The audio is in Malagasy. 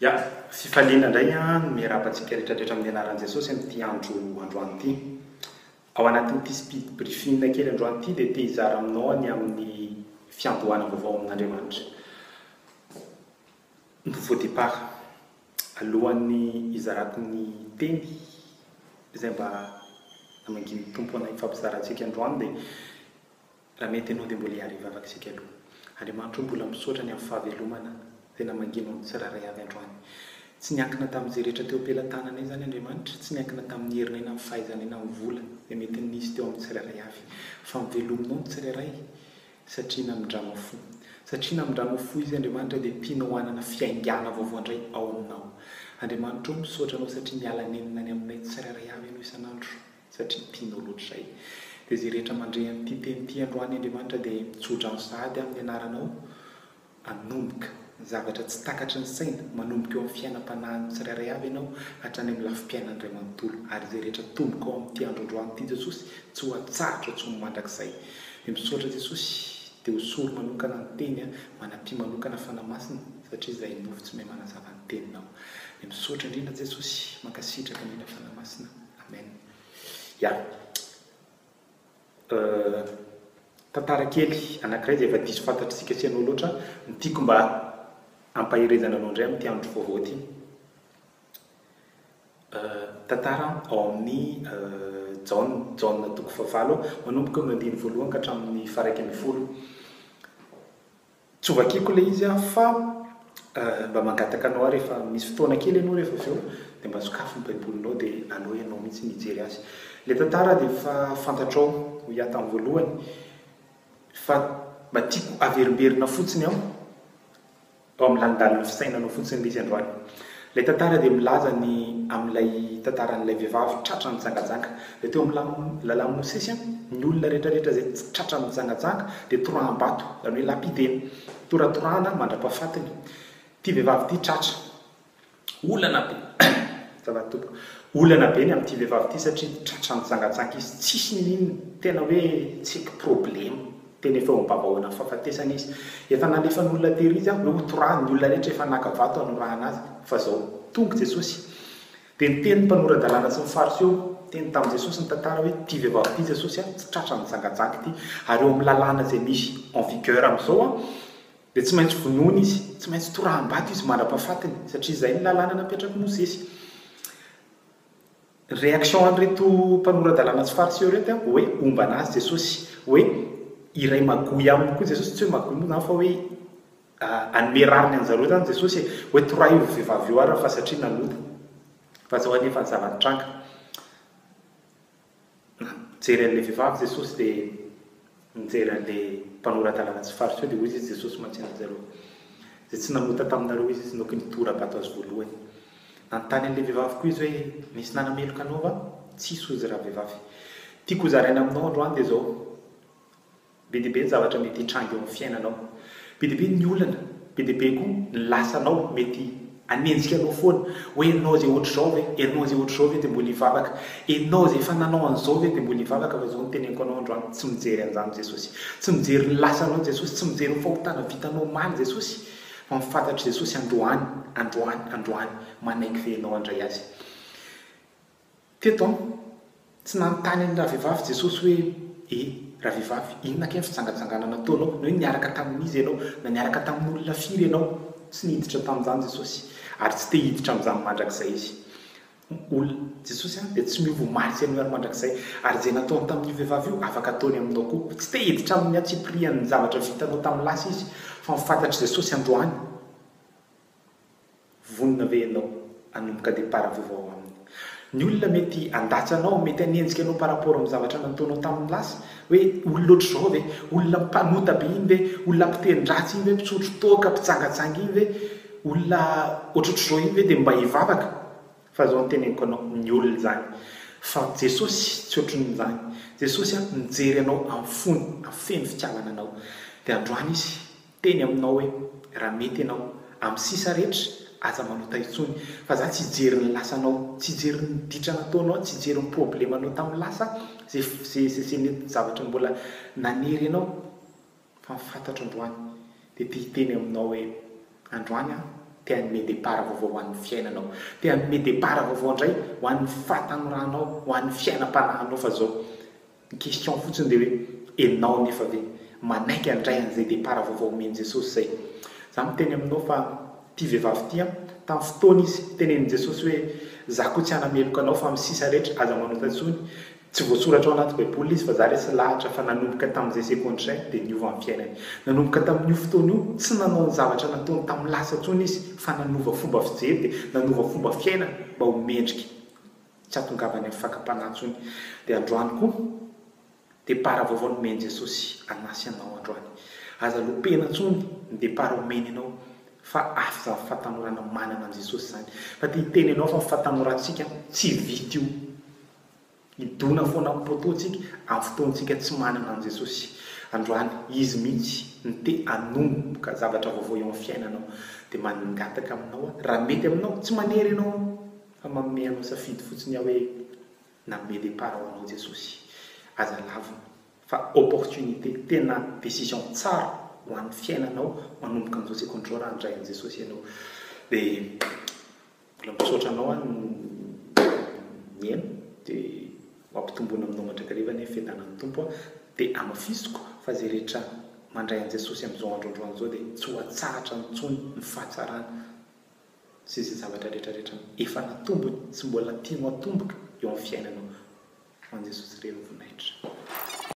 Ya, fifaliana indray no miarahaba antsika rehetra rehetra amin'ny anaran'i Jesosy amin'ity andro androany ity. Ao anatin'ity speed briefing kely androany ity dia te hizara aminao ny amin'ny fiandohana vaovao amin'Andriamanitra. Nouveau départ. Alohan'ny hizarako ny teny izay mba namangian'ny Tompo anay hifampizara antsika androany dia Raha mety enao dia mbola hiara hivavaka isika aloha. Andriamanitra o mbola misaotra ny amin'ny fahavelomana tena mangina amin'ny tsirairay avy androany. Tsy niankina tamin'izay rehetra teo am-pelatananay izany Andriamanitra, tsy niankina tamin'ny herinay na amin'ny fahaizanay na amin'ny vola izay mety nisy teo amin'ny tsirairay avy. Fa ny velominao ny tsirairay satria namindranao fo. Satria namindranao fo Izy Andriamanitra dia tianao hanana fiaingàna vaovao indray ao aminao. Andriamanitra o misaotra anao satria miala nenina any aminay tsirairay avy ianao isan'andro. satria tianao loatra izay. Dia izay rehetra mandre an'ity teny ity androany Andriamanitra dia tso-drano sahady amin'ny anaranao hanomboka, ny zavatra tsy takatry ny saina, manomboka eo amin'ny fiainam-panahin'ny tsirairay avy ianao hatrany amin'ny lafim-piainan'Ray manontolo, ary izay rehetra tomboka ao amin'ity andro androany ity Jesosy tsy ho atsahatra tsony mandrakizay. Dia misaotra Jesosy, dia ho sory manokana ny teny an, manampia manokana Fanahy Masina satria izay nofo tsy mahay manazava ny teninao. Dia misaotra indrindra Jesosy, mankasitraka indrindra Fanahy Masina. Amen. Ya. Tantara kely anankiray izay efa diso fantatr'isika sy ianao loatra, ny tiako mba hampaherezana anao indray amin'ity andro vaovao ity. Tantara ao amin'ny Jaona, Jaona toko fahavalo, manomboka amin'ny andininy voalohany ka hatramin'ny faha-iraika ambin'ny folo. Tsy ho vakiako ilay izy aho fa mba mangataka anao aho rehefa misy fotoana kely ianao rehefa avy eo dia mba sokafy ny Baibolinao dia aleo ianao mihitsy no hijery azy. Ilay tantara dia efa fantatrao, hoy aho tamin'ny voalohany, fa mba tiako averimberina fotsiny ao amin'ny lanondanin'ny fisainanao fotsiny ilay izy androany. Ilay tantara dia milaza ny amin'ilay tantaran'ilay vehivavy tratra nijangajanga. Dia teo amin'ny lala-mosesy, ny olona rehetrarehetra izay tsy tratra nijangajanga dia toraham-bato, izany hoe lapidena, toratorahana mandra-pahafatiny. Ity vehivavy ity tratra. Olana be, azafady tompoko, olana be ny amin'ity vehivavy ity satria tratra nijangajanga izy, tsisy n'inon'inona, tena hoe tsy problema. Tena efa eo amin'ny babahoana ny fahafatesana izy. Efa nalefan'olona tery izy hoe hotorahany, ny olona rehetra efa naka vato hanorahana azy. Fa izao, tonga i Jesosy. Dia niteny ny mpanora-dalàna sy ny Fariseo, niteny tamin'i Jesosy ny tantara hoe, Ity vehivavy ity Jesosy a, tsy tratra nijangajanga ity, ary eo amin'ny lalàna izay misy en vigueur amin'izao a, dia tsy maintsy vonoina izy, tsy maintsy toraham-bato izy mandra-pahafatiny, satria izay ny lalàna napetrak'i Mosesy. Réaction an'ireto mpanora-dalàna tsy fariseo ireto dia hoe homba an'azy Jesosy, hoe hiray magoy aminy koa Jesosy, tsy hoe magoy moa izany fa hoe hanome rariny an'zareo izany Jesosy e, hoe torahy io vehivavy io ary fa satria nanota, fa izao anie efa zava-nitranga. Nijery an'ilay vehivavy Jesosy dia Nijery an'ilay mpanorata lava tsy faritsoa, dia hoy izy, Jesosy mantsy anjareo, izay tsy namota taminareo izy, izy no ky nitora-bato azy voalohany. Nanontany an'ilay vehivavy koa izy hoe, Nisy nanameloka anao va? Tsisy, hoy izy ravehivavy. Tiako hozaraina aminao androany dia izao, Be dia be ny zavatra mety hitranga eo amin'ny fiainanao. Be dia be ny olana, be dia be koa ny lasanao mety Hanenjika anao foana hoe ianao izay ohatr'izao ve? Ianao izay ohatr'izao ve dia mbola hivavaka? Ianao izay efa nanao an'izao ve dia mbola hivavaka? Fa izao no teneniko anao androany, tsy mijery an'izany Jesosy. Tsy mijery ny lasanao Jesosy, tsy mijery ny fahotana vitanao omaly Jesosy, fa ny fantatr'i Jesosy androany, androany, androany, manaiky ve ianao handray Azy? Teto an, tsy nanontany an'i ravehivavy Jesosy hoe, E, ravehivavy, inona kay ny fijangajangana nataonao? Na hoe niaraka tamin'iza ianao? Na niaraka tamin'olona firy ianao? Tsy niditra tamin'izany Jesosy, ary tsy te hiditra amin'izany mandrakizay Izy. Olona, Jesosy an, dia tsy miova omaly sy anio ary mandrakizay. Ary izay nataony tamin'io vehivavy io, afaka ataony aminao koa. Tsy te hiditra amin'ny antsipirihan'ny zavatra vitanao tamin'ny lasa Izy, fa mifantatr'i Jesosy androany. Vonona ve ianao hanomboka départ vaovao ao aminy? Ny olona mety handatsa anao, mety hanenjika anao par rapport amin'ny zavatra nataonao tamin'ny lasa, hoe olona ohatr'izao ve, olona mpanota be iny ve, olona mpiteny-dratsy iny ve, mpisotro toaka, mpijangajanga iny ve, olona ohatrohatr'izao iny ve dia mba hivavaka? Fa izao no teneniko anao, miolona izany. Fa Jesosy tsy ohatrin'izany. Jesosy mijery anao amin'ny fony, afeno fitiavana anao. Dia androany Izy Teny aminao hoe raha mety ianao amin'ny sisa rehetra aza manota intsony fa za tsy hijery ny lasanao, tsy hijery ny ditra nataonao, tsy hijery ny problemanao tamin'ny lasa ze ze ze mety zavatra mbola nanery anao fa ny fantatro androany dia te hiteny aminao hoe androany aho te hanome départ vaovao ho an'ny fiainanao, te hanome départ vaovao indray ho an'ny fahatanoranao, ho an'ny fiainam-panahinao fa zao. Ny question fotsiny dia hoe enao anefa ve manaiky handray an'izay départ vaovao omen'i Jesosy izay? Za miteny aminao fa ity vehivavy ity an, tamin'ny fotoana izy tenenin'i Jesosy hoe za koa tsy hanameloka anao fa amin'ny sisa rehetra aza manota intsony, tsy voasoratra ao anaty baiboly izy fa za resy lahatra fa nanomboka tamin'izay seconde izay dia niova ny fiainany. Nanomboka tamin'io fotoana io tsy nanao ny zavatra nataony tamin'ny lasa intsony izy fa nanova fomba fijery dia nanova fomba fiainana mba ho mendrika. tsy hahatongavany amin'ny fakam-panahy intsony. Dia androany koa, depart vaovao nomen'i Jesosy hanasy anao androany. Aza lopena intsony ny depart omeny anao, fa afzan'ny fahatanorana manana an'i Jesosy izany. Fa te hiteny anao fa ny fahatanorantsika tsy vita io. Hidona foana amin'ny poteau-ntsika amin'ny fotoantsika tsy manana an'i Jesosy. Androany, Izy mihitsy no te hanomboka zavatra vaovao eo amin'ny fiainanao. Dia mangataka aminao aho, raha mety aminao, tsy manery anao aho, Fa manome anao safidy fotsiny aho hoe nanome départ ho anao Jesosy. Aza lavina fa opportunité tena décision tsara ho an'ny fiainanao manomboka amin'izao seconde raha handray an'i Jesosy ianao. Dia mbola misaotra anao aho nihaino dia ho ampitomboina aminao mandrakariva anie ny fiadanan'ny Tompo a. Dia amafisiko fa izay rehetra mandray an'i Jesosy amin'izao andro androany izao dia tsy ho atsahatra intsony ny fahatsarany sy izay zavatra rehetrarehetra efa natombony sy mbola tianao atomboka eo amin'ny fiainanao ho an'i Jesosy Re no voninahitra.